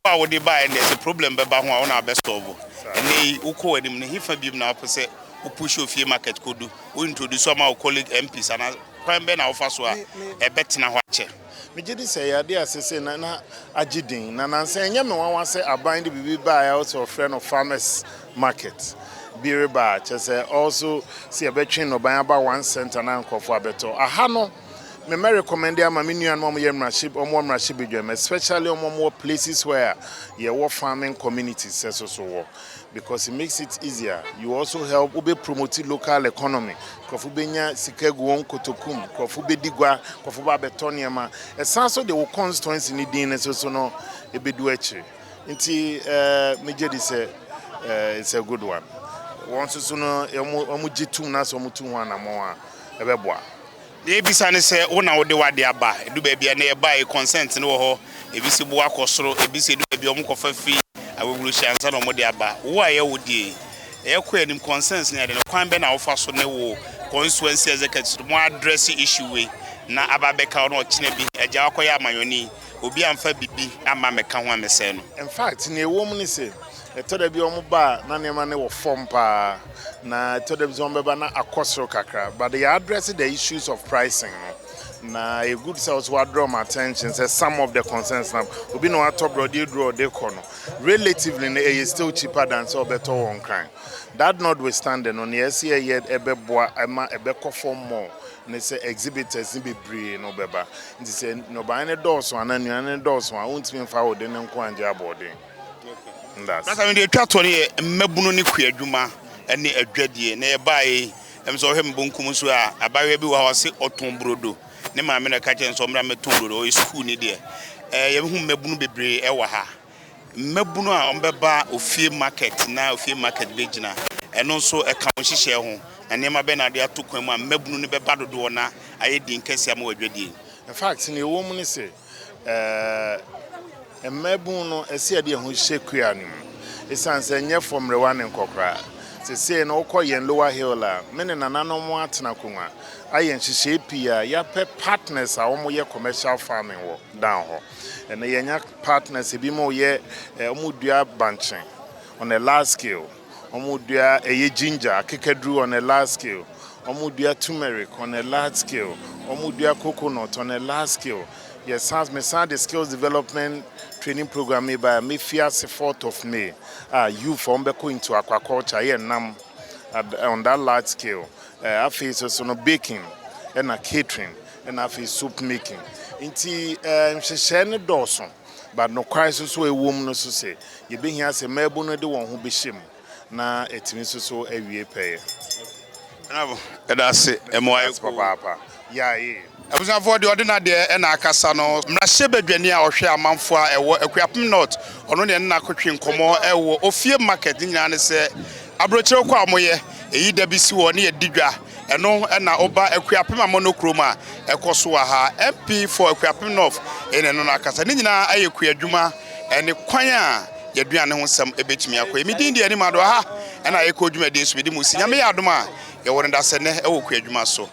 wo a wode baeɛ no deɛ, sɛ problem bɛba ho a, wo na wobɛ solve. Ɛnnɛ yi, wokɔ w'anim no, hefa biom na wopɛ sɛ wo push ofie market kɔdu? Wo introduce ama wo colleague MPs anaa kwan bɛn na wofa so a ɛbɛtena hɔ akyɛ? Megye di sɛ ɛyɛ ade a seesei na na agye din, na nnansa ɛnyɛ me nwanwa sɛ aban de biribi bae a ɔsɛ wɔfrɛ no farmers market bi reba, kyerɛ sɛ ɔso sɛ yɛbɛtwe nnɔbae aba one cent anaa nkurɔfo abɛtɔ. Aha no, me mɛ rekɔmɛnde ama me nuanom a wɔyɛ mmarahyɛ wɔn wɔ mmarahyɛbadwam, especially wɔn a wɔwɔ places where yɛwɔ farming communities sɛ so so wɔ. Because it makes it easier, you also help wo bɛ promote local economy, nkurɔfo bɛnya sika agu wɔn kotoku mu, nkurɔfo bɛdi gua, nkurɔfo ba abɛtɔ nneɛma, ɛsan so de wo constituency no din no nso no ɛbɛdu akyire. Nti eh, megye di sɛ eh, it's a good one. Wɔn nso so no, wɔn gye tum na sɛ wɔtu ho anammɔn a, ɛbɛboa. Nea ebisa ne sɛ wo na wode w'ade aba a, edu baabi a na yɛbae consent no wɔ hɔ, ebi se boa kɔ soro, ebi se edu baabi a wɔkɔfa fi awewurohyia ansa na wɔde aba. Wo a ɛyɛ wo deɛ yi, yɛkɔ yɛn anim, consent no yɛ dɛn? Kwan bɛn na wofa so ne wo constituency executives no, mo address issue wei na aba abɛka wo na ɔkyena bi agya wakɔyɛ amanɔne yi, obi amfa biribi amma ammɛka ho ammɛsɛe no? In fact, nea ɛwom ne sɛ, Ɛtɔ da bi a wɔba a na nneɛma no wɔ fam paa, na ɛtɔ da bi nso wɔbɛba na akɔ soro kakra. But yɛ address the issues of pricing no, na ɛyɛ good sɛ wo nso wa draw wɔn attention sɛ some of the concerns na obi na watɔ borɔdeɛ aduru a ɔde kɔ no, relatively no ɛyɛ still cheaper than sɛ ɔbɛtɔ wɔ Nkran. That notwithstanding no, nea ɛsɛ yɛyɛ ɛbɛboa ma ɛbɛkɔ fam more ne sɛ exhibitors no bebree no bɛba. Nti sɛ nnɔbaeɛ no dɔɔso anaa nnuane no dɔɔso a, wontumi mfa wo de no nko ara nnyɛ aboɔden. Na sɛ mede twa toɔ no yɛ mmabunu ne kua adwuma ne adwadie. Na yɛbaeɛ yi, ɛm sɛ ɔhwɛ me bonkum so a, abaayewa bi wɔ hɔ a ɔse ɔtɔn burodo. Ne maame na ɛka kyerɛ no sɛ ɔmmra mmɛtɔ burodo, ɔyɛ sukuuni deɛ. Ɛɛ yɛbɛhu mmabunu bebree ɛwɔ ha. Mmabunu a wɔbɛba ofie market na ofie market bɛgyina. Ɛno nso ɛka wo nhyehyɛɛ ho. Na nneɛma bɛn na wode ato kwan mu a mmabunu no bɛba dodoɔ na ayɛ den kɛseɛ ama wo adwadie yi. In fact, nea ɛwɔ mu ne sɛ, Ɛɛ, mmabun no, ɛsɛ yɛde yɛn ho hyɛ kua no mu esiane sɛ ɛnyɛ fam mmerewa ne nkɔkoraa. Seesei no, wokɔ yɛn Lower Hill a, me ne nananom atena akongua, ayɛ nhyehyɛe pii a yɛapɛ partners a wɔyɛ commercial farming wɔ Dan hɔ. Ɛnnɛ, yɛanya partners a ebinom reyɛ, wɔdua bankye on a large scale. Wɔn dua ɛyɛ ginger, akekaduru on a large scale. Wɔn dua tumeric on a large scale. Wɔn dua coconut on a large scale. Yɛ san, me san de skills development training program yi baeɛ a, me fi ase fourth of May a, youth wɔn bɛkɔ into aquaculture, ayɛ nnam on that large scale. Eh, afei so so no baking, ɛna catering, ɛna afei soap making. Nti eh, nhyehyɛɛ no dɔɔso. But nokware nso so a ɛwɔ mu no so sɛ yɛbɛhia sɛ mmaabun no de wɔn ho bɛhyɛ mu na atumi nso so awie pɛyɛ. Ɛnafo, yɛda ase. Ɛmoa yɛ koo. Ɛda ase papaapa. Yae. Abusuafoɔ, deɛ ɔde n'adeɛ na akasa no, mmarahyɛ badwani a ɔhwɛ amanfoɔ a ɛwɔ Akuapem North, ɔno ne ɛne no akɔtwe nkɔmmɔ wɔ Ofie Market, ne nyinaa ne sɛ, aburokyire ko a wɔyɛ, ɛyi da bi si hɔ ne yɛdi dwa. Ɛno na oba Akuapem Amono kurom a ɛkɔ so wɔ ha. MP for Akuapem North ne no no akasa. Ne nyinaa ayɛ kuadwuma ne kwan a yɛaduane ho nsɛm bɛtumi akɔ yi. Me din de Anim Ado. Aha na yɛkɔ dwumadie so. Mede mo si. Nyame yɛ adom a yɛwɔ no da sɛ nnɛ wɔ kuadwuma so.